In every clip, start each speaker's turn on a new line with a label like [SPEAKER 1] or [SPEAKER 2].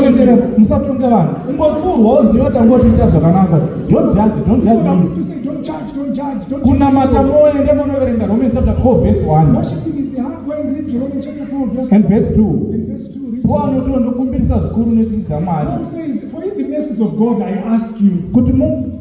[SPEAKER 1] kuchenjera musatonge vanhu ungopfurwa wonziva tangoti ita zvakanaka
[SPEAKER 2] kunamata moende
[SPEAKER 1] monoverenga roman chapter 12 verse 1
[SPEAKER 2] and verse 2 wanotiwa ndokumbirisa
[SPEAKER 1] zvikuru
[SPEAKER 2] netsitsi dzamwari kuti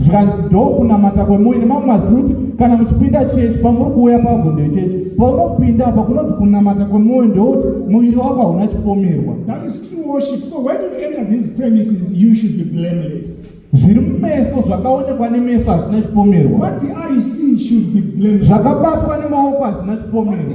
[SPEAKER 2] zvikanzi ndo
[SPEAKER 1] kunamata kwemuine mamwe mazwi kuti kana muchipinda chechi pamuri kuuya pabvunde chechi paunopinda apa kunonzi kunamata kwemwoyo ndewoti muviri wako hauna chipomerwa
[SPEAKER 2] zviri mumeso
[SPEAKER 1] zvakaonekwa nemeso hazvina chipomerwa
[SPEAKER 2] zvakabatwa nemaoko
[SPEAKER 1] hazvina chipomerwa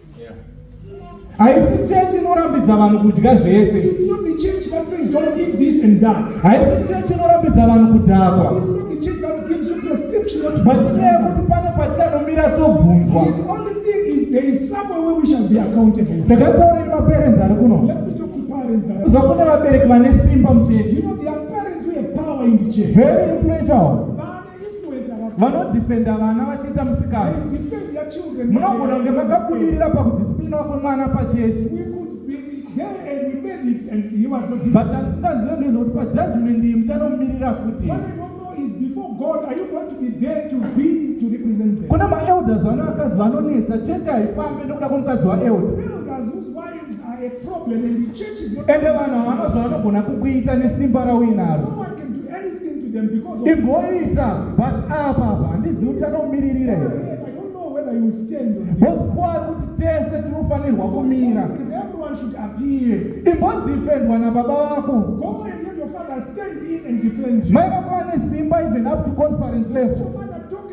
[SPEAKER 1] haisi chechi inorambidza vanhu kudya zvese haisi
[SPEAKER 2] chechi inorambidza
[SPEAKER 1] vanhu kudhakwa
[SPEAKER 2] matinyaya yekuti pane
[SPEAKER 1] patichanomira tobvunzwa
[SPEAKER 2] ndakataurei maperenzi
[SPEAKER 1] ari kuno
[SPEAKER 2] kuzva kune vabereki vane
[SPEAKER 1] simba muchechi
[SPEAKER 2] very influential
[SPEAKER 1] vanodhifenda vana vachiita musikana
[SPEAKER 2] munogona kunge makabudirira
[SPEAKER 1] pakudhisiplina wako mwana
[SPEAKER 2] pachechi but asikanziva
[SPEAKER 1] ndezvokuti pajudgment iyi muchanomirira futi
[SPEAKER 2] kuna maelders vane
[SPEAKER 1] vakadzi vanonetsa chechi haifambe nokuda kwomukadzi waelder
[SPEAKER 2] ende vanhu havana
[SPEAKER 1] zvavanogona kukuita nesimba rauinaro
[SPEAKER 2] imboita but
[SPEAKER 1] apapa handizivi kuti anomiririra here
[SPEAKER 2] vosikuwa ari kuti
[SPEAKER 1] tese tinofanirwa kumira
[SPEAKER 2] imbodefendwa
[SPEAKER 1] nababa vako
[SPEAKER 2] mai vako vane simba
[SPEAKER 1] even up to conference level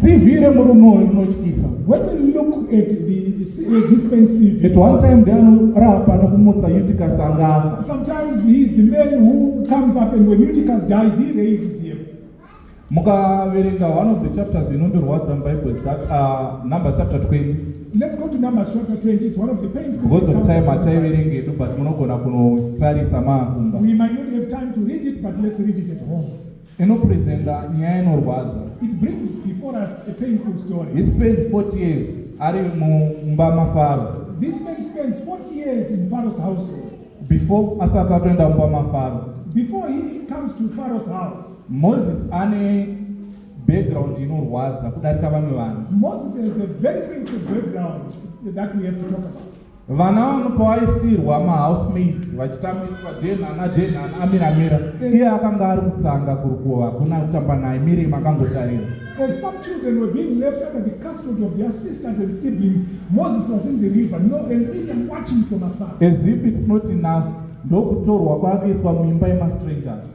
[SPEAKER 1] CV remurume uyu rinotyisa. When you look
[SPEAKER 2] at the, the, uh, this man's CV. At one time they
[SPEAKER 1] anorapa nokumutsa Eutychus angafa. Sometimes he is the
[SPEAKER 2] man who comes up and when Eutychus dies he raises him. Mukaverenga
[SPEAKER 1] one of the chapters inondirwadza muBible that uh, Numbers chapter 20. Let's go to Numbers
[SPEAKER 2] chapter 20. It's one of the painful. Because of time hataiverenge
[SPEAKER 1] edu but munogona kunotarisa maakumba. We might not have time
[SPEAKER 2] to read it but let's read it at home. Inopresenta
[SPEAKER 1] nyaya inorwadza. It brings
[SPEAKER 2] before us a painful story. He spent 40
[SPEAKER 1] years ari mumba maFaro. This man spends
[SPEAKER 2] 40 years in Pharaoh's household. Before asati
[SPEAKER 1] atoenda mumba maFaro. Before he
[SPEAKER 2] comes to Pharaoh's house. Moses ane
[SPEAKER 1] Background inorwadza
[SPEAKER 2] kudarika vamwe
[SPEAKER 1] vanhu.
[SPEAKER 2] Moses has a
[SPEAKER 1] very
[SPEAKER 2] painful background that we have to
[SPEAKER 1] talk
[SPEAKER 2] about. Vana
[SPEAKER 1] vano pawaisirwa ma housemaids vachitambiswa denhana denhana amira mira. Iye akanga ari kutsanga kurukuva hakuna kutamba naye miri makangotarira. As some children
[SPEAKER 2] were being left under the custody of their sisters and siblings, Moses was in the river, no, and Miriam watching from afar. As if it's not
[SPEAKER 1] enough, ndokutorwa kwakuiswa muimba yema strangers.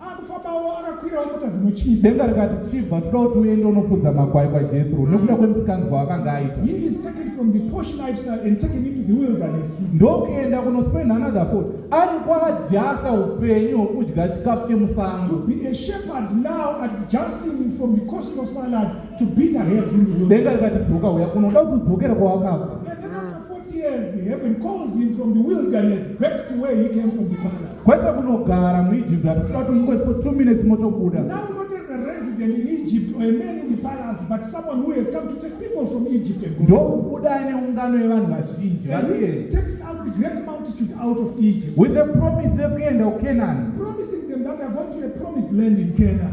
[SPEAKER 1] akufambawo akakwirawo mota dzinotyisa denga rikati chibva toda kuti uende unofudza makwai kwajethro mm. nekuda kwemisikanzwa akanga
[SPEAKER 2] aita ndokuenda
[SPEAKER 1] kunospend another fort ari kwaajasta upenyu hwokudya chikafu
[SPEAKER 2] chemusango denga rikati dzoka uya
[SPEAKER 1] kunoda kuti udzokera kwawakabva
[SPEAKER 2] Kwete kunogara
[SPEAKER 1] muIjipti ati kuda kuti mungoipo 2
[SPEAKER 2] minutes motobuda. Ndokubuda ane ungano
[SPEAKER 1] yevanhu vazhinji
[SPEAKER 2] variye. With the promise
[SPEAKER 1] yekuenda kuKenani. Promising them
[SPEAKER 2] that they are going to a promised land in Canaan.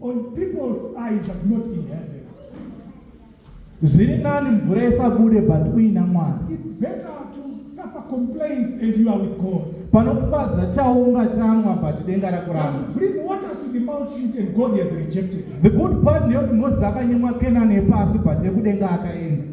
[SPEAKER 1] On people's
[SPEAKER 2] eyes but not in heaven.
[SPEAKER 1] Zviri nani mvura isabude but uina mwana. It's better to
[SPEAKER 2] suffer complaints and you are with God. Panokufadza
[SPEAKER 1] chaunga chamwa but denga rakuramba. To bring
[SPEAKER 2] waters
[SPEAKER 1] to the
[SPEAKER 2] multitude and God has rejected. The good part
[SPEAKER 1] ndeyoti
[SPEAKER 2] Mozisi
[SPEAKER 1] akanyimwa Kenani yepasi but yekudenga akaenda.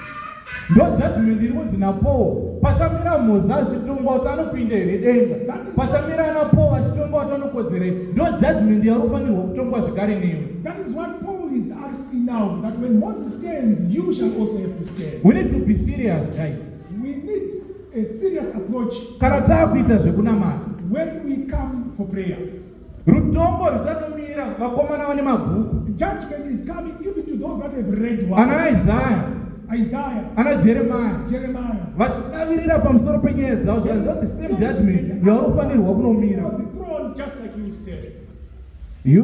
[SPEAKER 2] ndojudgment
[SPEAKER 1] iri kunzi napowo pachamira mhoza achitongwa kuti anopinda here denga pachamira ana powo achitongwa kuti anokodzera here ndo judgment yauri kufanirwa kutongwa zvekare
[SPEAKER 2] newe we need to be serious
[SPEAKER 1] guys we need
[SPEAKER 2] a serious approach kana taakuita
[SPEAKER 1] zvekunamata when we come for
[SPEAKER 2] prayer Rutongo ruchatomira vakomana
[SPEAKER 1] vane
[SPEAKER 2] mabhuku. Judgment is coming even to those that have read one. Ana Isaiah. Isaiah.
[SPEAKER 1] Ana Jeremiah. Jeremiah.
[SPEAKER 2] Vachidavirira
[SPEAKER 1] pamusoro penyaya dzavo zvanzi not the same judgment yaunofanirwa kunomira.
[SPEAKER 2] You.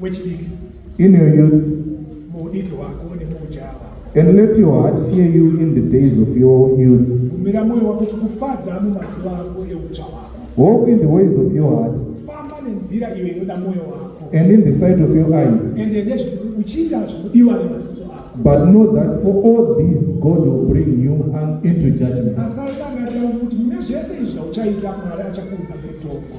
[SPEAKER 2] wechidiki in your youth
[SPEAKER 1] muudiki
[SPEAKER 2] hwako nemuujava and let your heart
[SPEAKER 1] fear you in the days of your youth bvumira mwoyo wako
[SPEAKER 2] kufadza mumazuva ako eutsva hwako walk in the ways of
[SPEAKER 1] your heart famba nenzira
[SPEAKER 2] iyo inoda mwoyo wako and in the sight of your
[SPEAKER 1] eyes ende nezvikuchiita
[SPEAKER 2] zvikudiwa nemaziso ako but know that for
[SPEAKER 1] all these god will bring you into judgment asati angatira kuti
[SPEAKER 2] mune zvese izvi zvauchaita mwari achakuudza kutongo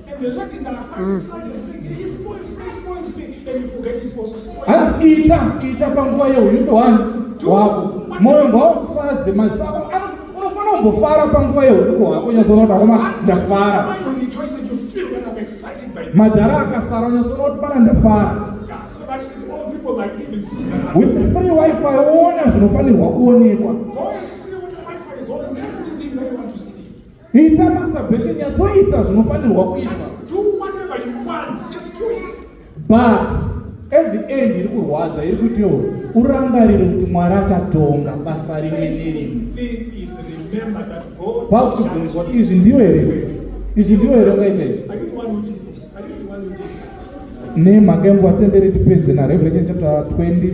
[SPEAKER 2] hanzi ita
[SPEAKER 1] ita panguva yeunyuko hwani hwako mwoyo ngwaukufadze maziso ako unofanira kumbofara panguva yeunyuko hwako unyazoona kuti akoma ndafara
[SPEAKER 2] madhara akasara
[SPEAKER 1] unyazoona kuti pana ndafara
[SPEAKER 2] with the free wifi
[SPEAKER 1] woona zvinofanirwa kuonekwa
[SPEAKER 2] Ita masturbation
[SPEAKER 1] yatoita zvinofanirwa kuita.
[SPEAKER 2] But at
[SPEAKER 1] the end iri kurwadza iri kuti yo urangarire kuti mwari achatonga basa rimwe nerimwe
[SPEAKER 2] vakuchibvunzwa kuti izvi
[SPEAKER 1] ndiwe here izvi ndiwe here saitei
[SPEAKER 2] nemhaka yembo vatendere
[SPEAKER 1] tipedze narevelation chapter 20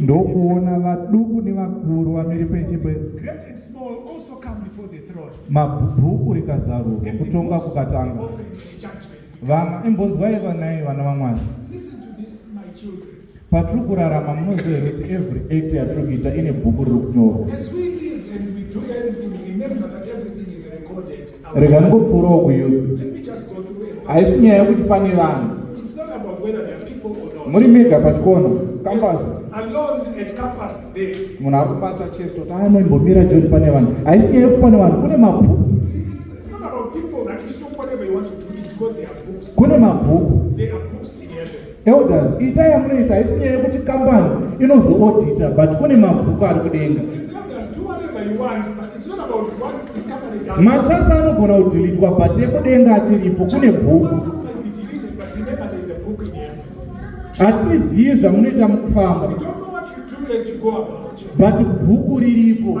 [SPEAKER 2] ndokuona vaduku
[SPEAKER 1] nevakuru vamiri penzvimbo
[SPEAKER 2] mabhuku
[SPEAKER 1] rikazarurwa kutonga kukatanga
[SPEAKER 2] vana imbonzwai
[SPEAKER 1] vanai vana vamwari
[SPEAKER 2] patiri kurarama
[SPEAKER 1] munoziva here kuti every act yatiri kuita ine bhuku riri
[SPEAKER 2] kunyorwa rega ndikupfuurawo
[SPEAKER 1] kuyuth
[SPEAKER 2] haisi nyaya yekuti pane
[SPEAKER 1] vanhu
[SPEAKER 2] muri mega pachikono
[SPEAKER 1] kambasi
[SPEAKER 2] munhu akubata
[SPEAKER 1] cheso taanoimbomira joni pane vanhu haisi nyaya yekuti pane vanhu kune mabhuku
[SPEAKER 2] kune mabhuku Elders, itai
[SPEAKER 1] yamunoita haisi nyaya yekuti kambani inozoodita but kune mabhuku ari kudenga.
[SPEAKER 2] Matsatsa anogona
[SPEAKER 1] kudhilitwa but ekudenga achiripo kune bhuku.
[SPEAKER 2] Hatizivi
[SPEAKER 1] zvamunoita mukufamba.
[SPEAKER 2] But bhuku
[SPEAKER 1] riripo.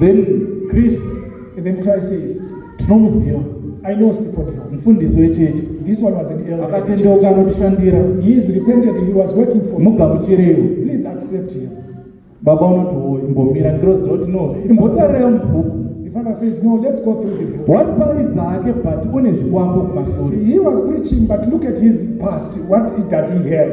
[SPEAKER 2] Then
[SPEAKER 1] Christ, and then Christ
[SPEAKER 2] says, tinomuziva
[SPEAKER 1] aine usipo
[SPEAKER 2] ndiwo mufundisi wechechi
[SPEAKER 1] this one was an elder
[SPEAKER 2] akatendeuka anotishandira
[SPEAKER 1] he is repented he
[SPEAKER 2] was working for mugamuchireiwo please
[SPEAKER 1] accept him
[SPEAKER 2] baba unoti
[SPEAKER 1] wo imbomira ndirozi roti no imbotarira mubhuku Father says, No,
[SPEAKER 2] let's go through the book. What paridza hake
[SPEAKER 1] but une zvikwambo kumashure. He was preaching,
[SPEAKER 2] but look at his past. What does he have?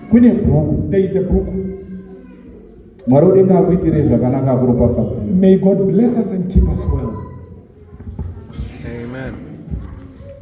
[SPEAKER 2] kune
[SPEAKER 1] bhuku there is a book mwari udenga akuitirei zvakanaka akuropafadza
[SPEAKER 2] may god bless
[SPEAKER 1] us
[SPEAKER 2] and keep us well amen